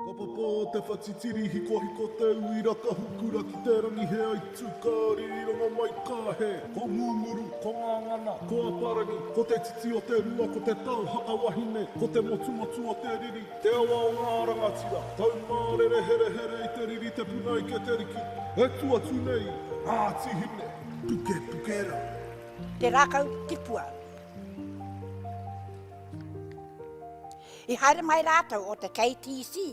Ka papa te whatitiri hikohiko te uira ka hukura ki te rangi he aitu ka ririranga mai ka he Ko Ngunguru, ko Ngangana, ko Aparangi Ko te titi o te rua ko te tau haka wahine Ko te motumotu o te riri, te awa o ngā rangatira Taumārere herehere i te riri te puna ike te riki E tu atu nei Ngāti Hine, pukepuke rā. Te rākau tipua. I haere mai rātou o te KTC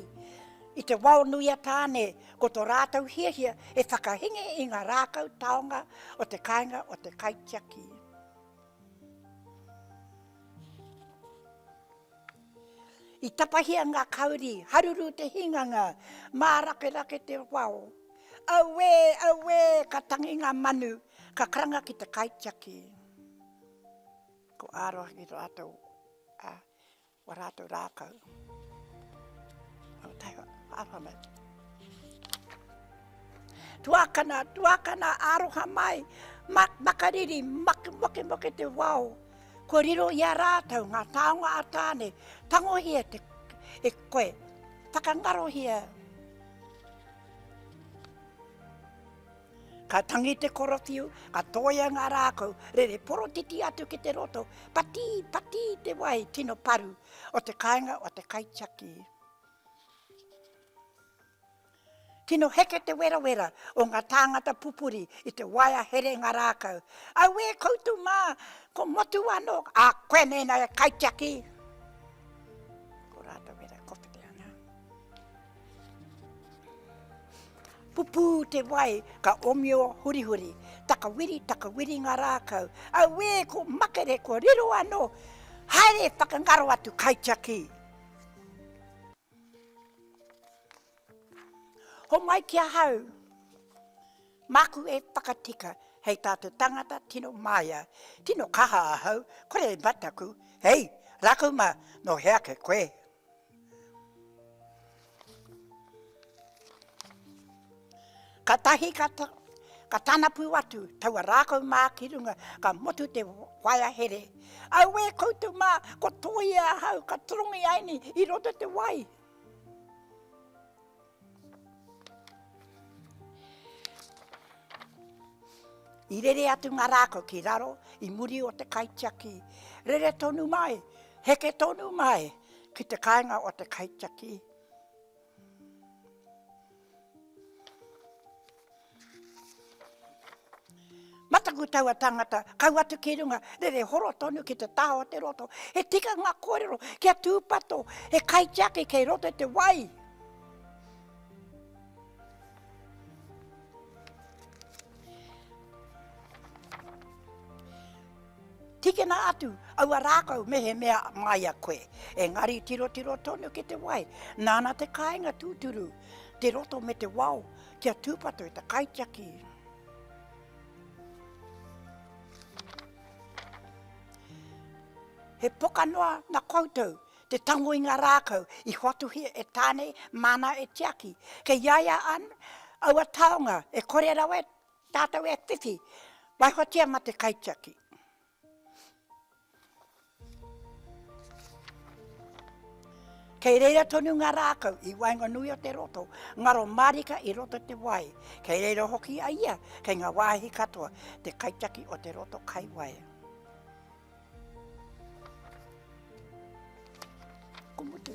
i te wao nui a Tāne ko to rātou hiahia he whakahingi i nga rākau taonga o te kainga o te kaitiaki. I tapahia nga kauri, haruru te hinganga, mārakerake te wao. Auē, auē, ka tangi nga manu, ka karanga ki te kaitiaki. Ko āroha ki rātou. Ua rātou rākau. Aotearoa, Arohamau. Tuakana, tuakana, aroha mai, mak, makariri, mak, moke, moke te wao. Ko riro i a rātou ngā tāonga a tāne, tangohia te, e koe, whakangarohia Ka tangi te korowhiu, ka toia ngā rākau rere porotiti atu ki te roto, pati, pati te wai tino paru o te kāinga o te kaitiaki. Tino heke te werawera o ngā tāngata pupuri i te waea here ngā rākau. Auē koutou mā, ko Motu anō, ā, koe mēnā e kaitiaki! Pupū te wai, ka omio hurihuri. Takawiri, takawiri ngā rākau. Auē, ko makere, ko riro anō! Haere, whakangaro atu, kaitiaki! Homai ki ahau, māku e whakatika hei tā te tangata tino māia. Tino kaha ahau, kore e mataku, hei, rākau mā, nō hea ake koe? Ka tahi ka ka tana pū atu taua rākau mā ki runga ka motu te waea here. Auē koutou mā, ko Toi e ahau ka torongi ai nei i roto te wai. I rere atu ngā rākau ki raro, i muri o te kaitiaki. Rere tonu mai, heke tonu mai ki te kāinga o te kaitiaki. Mataku taua tangata, kau atu ki runga, rere horo tonu ki te taha o te roto. He tikanga kōrero kia tūpato he kaitiaki kei roto i te wai. Tikina atu aua rākau mehemea māia koe, engari tirotiro tonu ki te wai, nāna te kāinga tūturu, te roto me te wao, Kia tūpato i te kaitiaki. He poka noa na koutou te tango i ngā rākau i hoatuhia e Tāne māna e tiaki. Kei iaia an, aua taonga e kore rawa e tātou e whiwhi, waihotia ma te kaitiaki. Kei reira tonu ngā rākau i waenganui o te roto, ngaro mārika i roto te wai. Kei reira hoki a ia kei ngā wāhi katoa, te kaitiaki o te roto kai wai. Ko mutu.